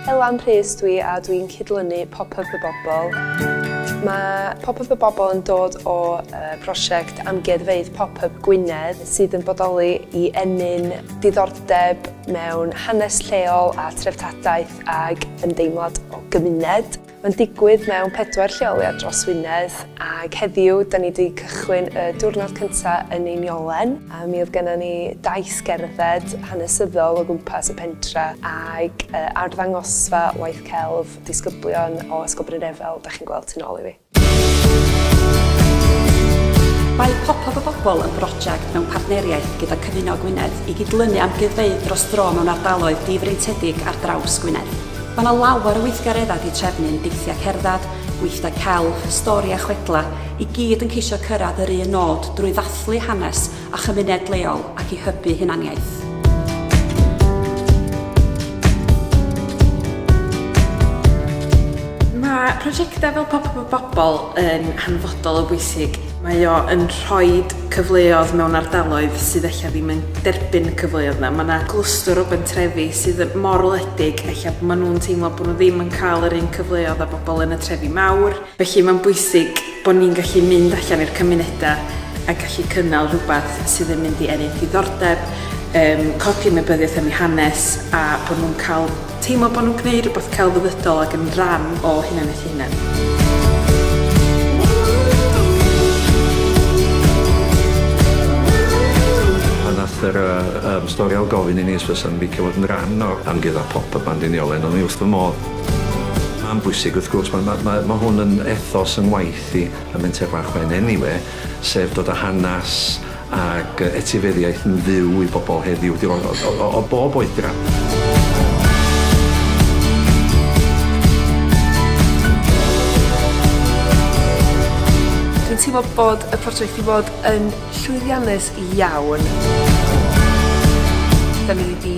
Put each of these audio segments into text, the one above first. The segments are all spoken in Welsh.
Elan Rhys dwi a dwi'n cydlynu Pop Up y Bobl. Mae Pop Up y Bobl yn dod o brosiect Amgueddfeydd Pop Up Gwynedd sydd yn bodoli i ennyn diddordeb mewn hanes lleol a threftadaeth ag ymdeimlad o gymuned. Mae'n digwydd mewn pedwar lleoliad dros Wynedd ac heddiw dan ni wedi cychwyn y diwrnod cyntaf yn Einiolen. Mi oedd gennon ni daith gerdded hanesyddol o gwmpas y pentre ac arddangosfa waith celf disgyblion o Ysgol Brynefel, dach chi'n gweld tu nôl i fi. Mae Pop-Up y Bobl yn broject mewn partneriaeth gyda Cyfuno Gwynedd i gydlynu amgueddfeydd dros dro mewn ardaloedd difreintiedig ar draws Gwynedd. Mae yna lawer o weithgareddau di trefnyn, deithiau cerdded, gweithdai celf, stori a chwedlau, i gyd yn ceisio cyrraedd yr un nod drwy ddathlu hanes a chymuned leol ac i hybu hunaniaeth. Mae prosiectau fel Pop-Up y Bobl yn hanfodol o bwysig Mae o yn rhoi cyfleodd mewn ardaloedd sydd ella ddim yn derbyn y cyfleodd yna. Mae yna glwstwr o bentrefi sydd mor wledig, ella maen nhw'n teimlo bod nhw ddim yn cael yr un cyfleodd â bobl yn y trefi mawr. Felly mae'n bwysig bod ni'n gallu mynd allan i'r cymunedau a gallu cynnal rhywbeth sydd yn mynd i ennill diddordeb, codi ymwybyddiaeth am ei hanes a bod nhw'n cael Teimlo bod nhw'n gwneud rhywbeth celfyddydol ac yn rhan o hunaniaeth eu hunain. yr uh, um, stori o gofyn i ni os fysa'n licio fod yn rhan o'r amgudd a pop y band yn iolen, ond ni wrth fy modd. Mae'n bwysig wrth gwrs, mae, mae, mae, mae hwn yn ethos yn waith i y menter bach mae'n enniwe, sef dod â hanes Ag etifeddiaeth yn fyw i bobl heddiw, dim ond o, o, o bob oedran. teimlo bod y prosiect i fod yn llwyddiannus iawn. Da ni wedi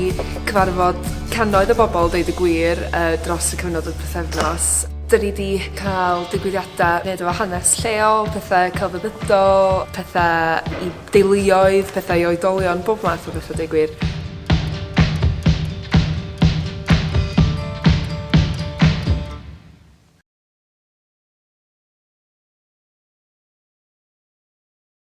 cyfarfod cannoedd o bobl, dweud y gwir, dros y cyfnod o pythefnos. 'Dyn ni 'di ca'l digwyddiadau neud efo hanes lleol, pethe celfyddydol, pethe i deuluoedd, petha i oedolion, bob math o betha deu gwir.